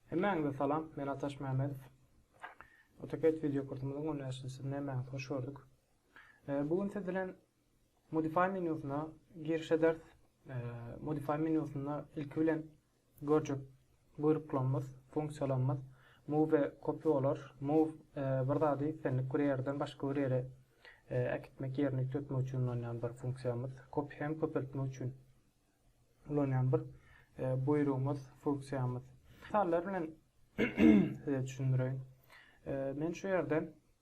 Hemmäňize salam, men Ataş Mämmedow. AutoCAD wideo kursumyzyň gönäşdiriji Mämmäňizi hoş gördük. E, bu gün siz bilen Modify menýusyna girişe ders. E, Modify menýusynda ilki bilen Görjek. Buýruklanmaz, funksiýalanmaz. Move kop bolar. Move bir zady islendik bir ýerden başga bir ýere äkitmek, ýerine üýtgetmek üçin ulanýan bir funksiýamyz. Kop hem köpeltmek üçin ulanýan bir buýrugymyz, funksiýamyz. Mysallar bilen size düşündireýin. Men şu ýerden.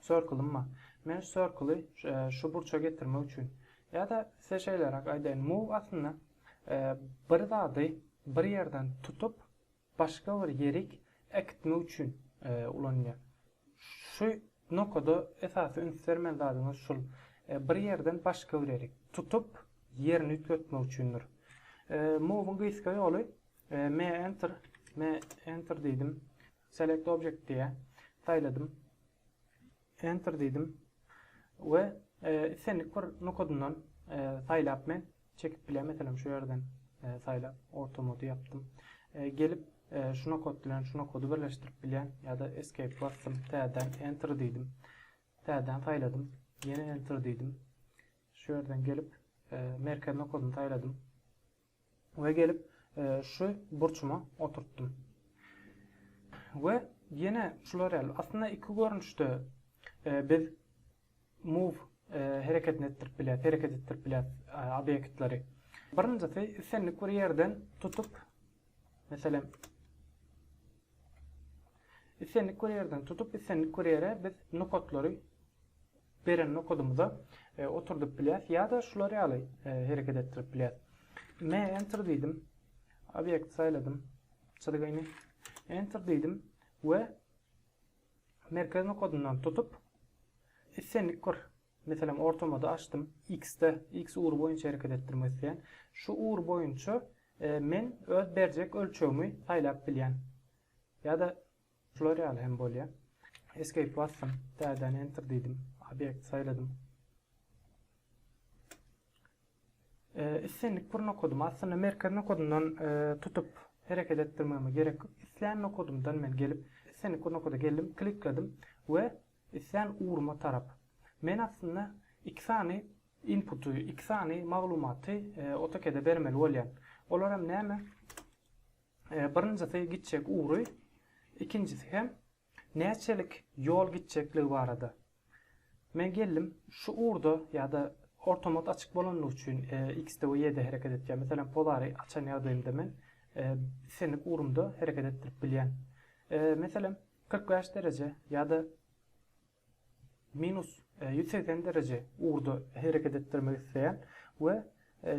Circle-ym bar. Men şu circle-y şu burça getirmek üçin ýa-da size şeýleräk aýdaýyn, move aslynda bir zady bir ýerden tutup, başga bir ýerik äkitmek üçin ulanylýar. Şu nokada esasy üns bermeli zadyňyz şul, bir ýerden başga bir ýerik, tutup, ýerini üýtgetmek üçindir. Move-yň gysga ýoly, me enter, me enter diýdim. Select Object diýýär. Saýladym. Enter diýdim. We islendik bir nokadyndan saýlap men çekip bilýän. Meselem şu ýerden saýlap orta mody ýapdym. Gelip şu nokad bilen şu nokady birleşdirip bilýän. Ýa-da Escape basdym. Täzeden Enter diýdim. Täzeden saýladym. Ýene Enter diýdim. Şu ýerden gelip merkez nokadyny saýladym. We gelip şu burçuma oturtdym. We ýene şular ýaly. Aslynda iki görnüşde biz move hereketini etdirip bilýäs, hereket etdirip bilýäs obýektleri. Birinjisi islendik bir ýerden tutup, meselem, Islendik bir ýerden tutup, islendik bir ýere biz nokatlary beren nokadymyza oturdyp bilýäs ýa-da şular ýaly hereket etdirip bilýäs. Me enter diýdim. Obýekt saýladym. Çyzgyny enter diýdim we merkez nokadyndan tutup islendik bir meselem ortamada açdym. X-de, X ugry boýunça hereket etdirmek isleýän. Şu ugur boýunça men öz berjek ölçegimi saýlap bilýän. Ýa-da şular ýaly hem bolýar. Escape basdym, täzeden enter diýdim, obýekt saýladym. Islendik bir nokadymy, aslynda merkez nokadyňdan tutup hereket etdirmegime gerek ýok. Islän nokadyňdan men gelip, islendik bir nokada geldim, klikledim we islän ugruma tarap. Men aslynda iki sany inputy, iki sany maglumaty AutoCAD-e bermeli bolýan. Olar hem näme? Birinjisi gitjek ugry, ikinjisi hem näçelik ýol gitjekligi barada. Men geldim, şu ugurda ýa-da ortamat açyk bolandygy üçin X-de we Y-de hereket etýän, meselem, polary açan ýagdaýymda men islendik ugrumda hereket etdirip bilýän. Meselem, kyrk bäş dereje ýa-da Minus ýüz segsen dereje ugurda hereket etdirmek isleýän we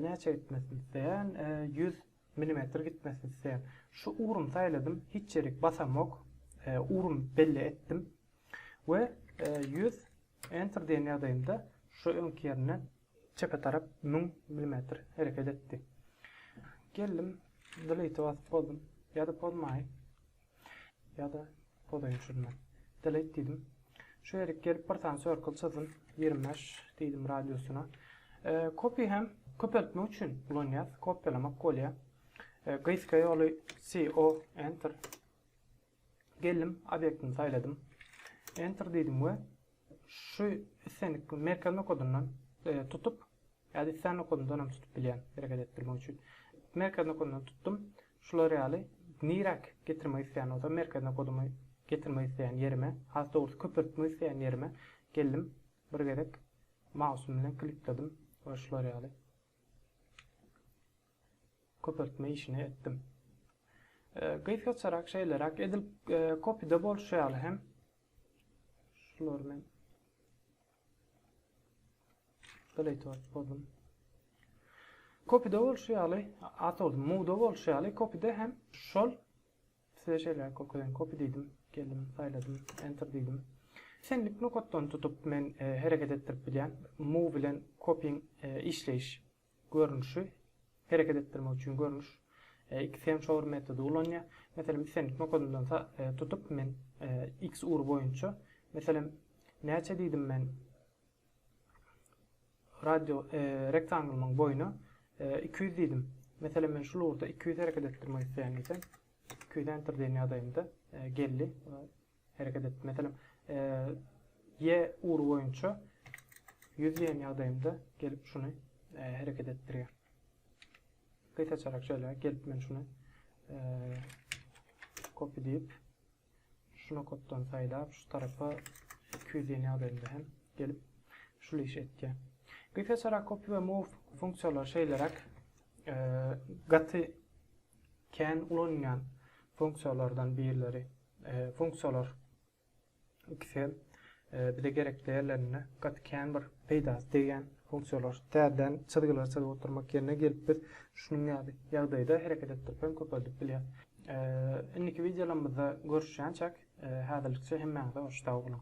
näçe gitmesini isleýän, ýüz milimetr gitmesini isleýän. Şu ugrumy saýladym, hiç ýerik basamok, ugrumy belli etdim we ýüz Enter diýen ýagdaýymda şu öňki ýerinden çepe tarap müň milimetr hereket etdi. Geldim, Delete basyp bozdum, ýa-da pozmaýyn. Ýa-da poza öçürmek. Delete diýdim. Şu ýerik gelip bir sany circle çyzdym. 25 diýdim radiusyna. Copy hem köpeltmek üçin ulanýas. Kopýalamak bolýar. Gysga ýoly CO enter. Geldim, obýektimi saýladym. Enter diýdim we şu islendik merkez nokadyndan tutup Ýa-da islän nokadyňdan hem tutup bilýän hereket etdirmek üçin. Merkez nokadyndan tutdum. Şular ýaly niräk getirmek isleýän bolsam merkez nokadymy getirmek isleýän ýerime, has dogrusy köpeltmek isleýän ýerime geldim. Bir gezek mausym bilen klikledym we şular ýaly köpeltme işini etdim. Gysgaçarak şeýleräk edil kopyda bolşy ýaly hem şulary men Playtoat boldum. Kopide bolşy ýaly, at oldu. Muda bolşy ýaly, kopide hem şol size şeýle görkezýän. Kopi diýdim, geldim, saýladym, enter diýdim. Senlik nokatdan tutup men e, hereket etdirip bilýän. Move bilen kopyň e, işleýiş görnüşi, hereket etdirmek üçin görnüş, iki semşowur metody ulanýar. Meselem, islendik nokadyndan tutup men X ugry boýunça, meselem, näçe diýdim men radio rektanglymyň boýuna iki ýüz diýdim. Meselem, men şul ugurda iki ýüz hereket etdirmek isleýän diýsem, iki ýüz enter diýen ýagdaýymda geldi. hereket edip, meselem, Y ugry boýunça ýüz diýen ýagdaýymda gelip şuny hereket etdirýär. Gysaçarak şeýle gelip men şuny kopy diýip, şuna kopdan saýlap, şu tarapa 200 diýen ýagdaýymda hem gelip şul işi etýär. Gysaçarak kopy we move funksiýalary şeýleräk gaty kän ulanylýan funksiýalardan birleri Funksiýalar ikisi hem bize gerekli ýerlerinde gaty kän bir peýdasy degýän funksiýalar. Täzeden çyzgylary çyzyp oturmak ýerine gelip biz şunuň ýaly ýagdaýda hereket etdirip hem köpeldip bilýäs. Indiki wideolarymyzda görüşýänçäk, häzirlikçe hemmäňize hoş sag boluň.